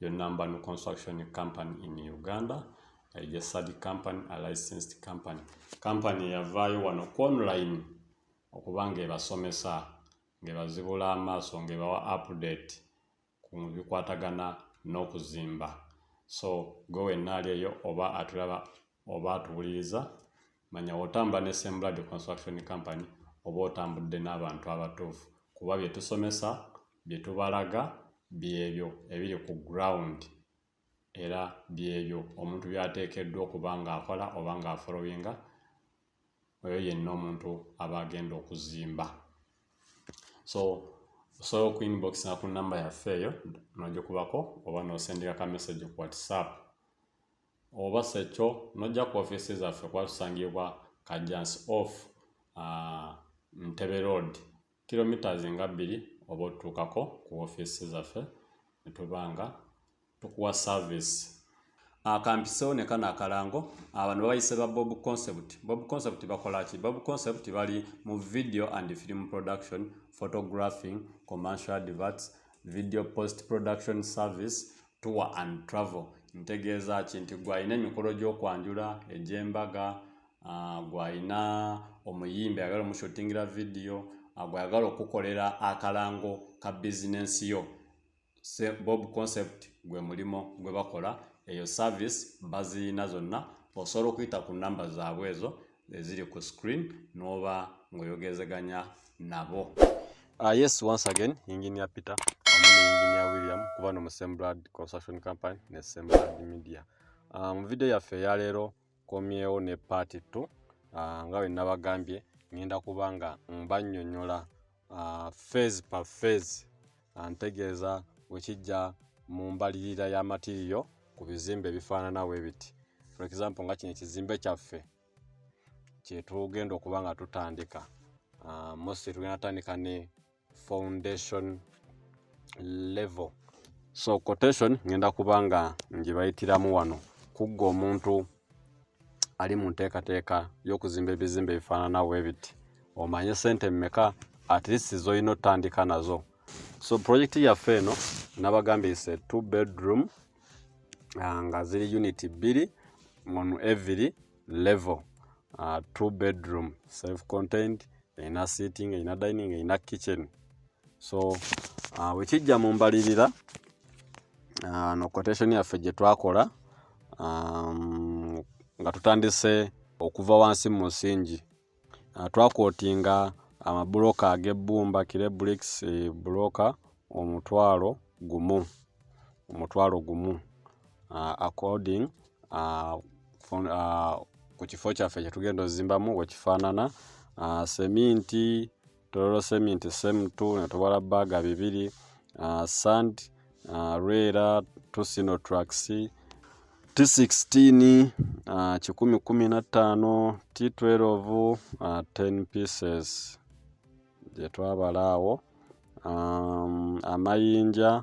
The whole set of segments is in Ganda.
Your number no construction company in Uganda registered company a licensed company company yavaayo wano ku online okuba ng'ebasomesa ng'ebazibula amaaso ng'ebawa update ku bikwatagana n'okuzimba so gwe wenna ali eyo oba atulaba oba atuwuliriza manya wotamba ne semblad construction company oba otambudde n'abantu abatuufu kuba bye tusomesa bye tubalaga byebyo ebiri ku ground era byebyo omuntu byateekeddwa okuba ng'akola oba ng'afolowinga oyo yenna omuntu aba agenda okuzimba so osobola okuinboxinga ku namba yaffe eyo nogikubako oba nosendeka ka message ku whatsapp oba sekyo nojja ku ofiisi zaffe kuba tusangibwa kajjansi off uh, ntebe road kilometres nga bbiri oba otutuukako ku ofiisi zaffe netuba nga tukuwa service akampisewo ne kano akalango abantu babayise ba bob concept bob concept bakolaki bob concept bali mu video and film production photographing commercial adverts video post production service tour and travel ntegeeza ki nti gwalina emikolo gy'okwanjula egy'embaga ah, gwalina omuyimbi ayagala omushutingira vidiyo ah, gwayagala okukolera akalango ka bizinensi yo bob concept gwe mulimu gwe bakola eyo service baziyina zonna osobola okuyita ku namba zaabwe ezo eziri ku screen n'oba ng'oyogezeganya nabo uh, yes once again engineer peter amu ne engineer william kuba no mu semblad construction company ne semblad media uh, mu video yaffe eyaleero komyewo ne part t uh, nga bwe nabagambye ngenda kuba nga mbanyonyola uh, phase per phase antegeeza uh, wekijja mu mbalirira ya matiriyo ku bizimbe ebifaanana we biti for example nga kino ekizimbe kyaffe kyetugenda okuba nga tutandika uh, mostly tugenda tandika ne foundation level so quotation ngenda kuba nga ngibayitiramu wano kugga omuntu ali mu nteekateeka y'okuzimba ebizimbe ebifaanana bwe biti omanye sente mmeka at least zolina otandika nazo so pulojekiti yaffe eno nabagambye is a two bedroom uh, nga ziri unit bbiri on every level uh, two bedroom self contained erina sitting erina dining erina kitchen so uh, wekijja mu mbalirira Ah, no quotation yaffe gye twakola um, nga tutandise okuva wansi mu musingi ah, twakootinga amabuloka ag'ebbumba kirebricks eh, buloka omutwalo gumu omutwalo gumu ah, according ku kifo kyaffe kyetugenda ozimbamu wekifaanana seminti Tororo cement same to ne tubala baga bibiri uh, sand uh, rera tusino tracks T16 uh, kikumi kumi na ttaano T12 uh, 10 pieces gye twabala awo um, amayinja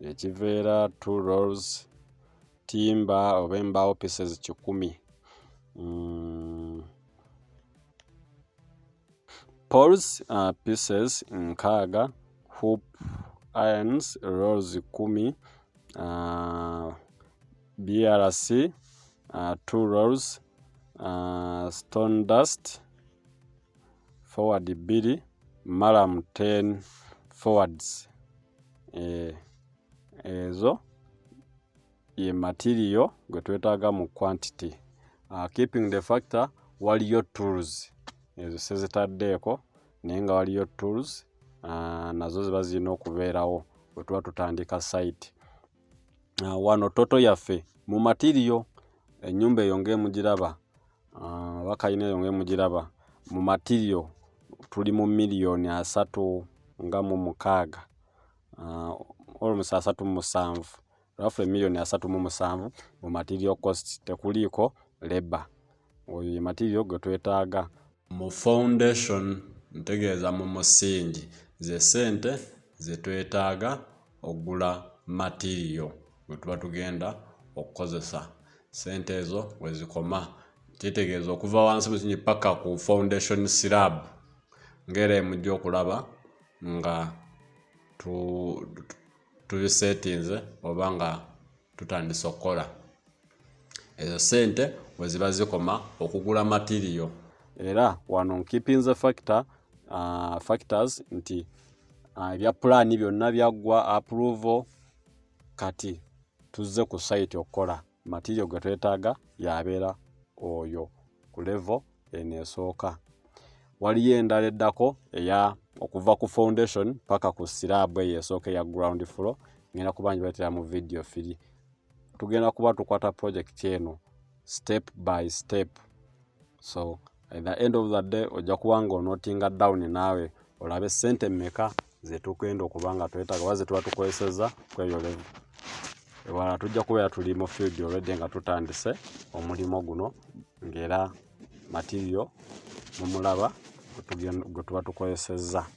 ekiveera two rolls timba oba embaawo pieces kikumi mm. poles uh, pieces nkaaga hoop irons rolls kumi uh, brc uh, two rolls uh, stone dust forward bbiri malam 10 forwards eh, ezo ye material gwe twetaaga mu quantity uh, keeping the factor waliyo tools ezo sezitaddeeko naye nga waliyo tools uh, nazo ziba zirina okubeerawo bwe tuba tutandika site uh, wano toto yaffe mu material ennyumba eyo ng'emugiraba Ah, bakayina eyo nga emugiraba mu matirio tuli mu miliyoni asatu nga mu mukaaga ah, olmusi asatu mu musanvu rafu emiliyoni asatu mu musanvu mu matirio cost tekuliiko leba oyo ye matirio gwe twetaaga mu foundation ntegeeza mu musingi ze sente zetwetaaga ogula matiiriyo gwe tuba tugenda okukozesa sente ezo wezikoma kitegeeza okuva wansi mukinyi paka ku foundation sirab ngaera emujja okulaba nga tubisetinze oba nga tutandise okukola ezo sente weziba zikoma okugula materiyo era wano nkipinze factor uh, factors nti uh, ebya pulaani byonna byaggwa approval kati tuzze ku site okukola materiyo gwe twetaaga yabeera oyo ku levo eno esooka waliyo endala eddako eya okuva ku foundation paka ku siraabu eyo esooka eya ground floor ngenda kuba njibatera mu vidiyo firi tugenda kuba tukwata project eno step by step so at the end of the day ojja kuba nga onotinga down naawe olabe sente meka zetugenda okuba nga twetaga oba zetuba tukozeseza kwebyo levu ewala tujja kubeera tuli mu field olwedde nga tutandise omulimu guno ngaera matirio mumulaba gwetuba tukozesezza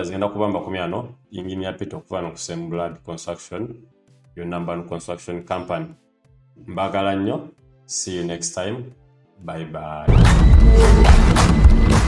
others ngenda kuba makumi ano engineer Peter okuva no kusem blood construction yo number construction company mbagala nnyo see you next time bye bye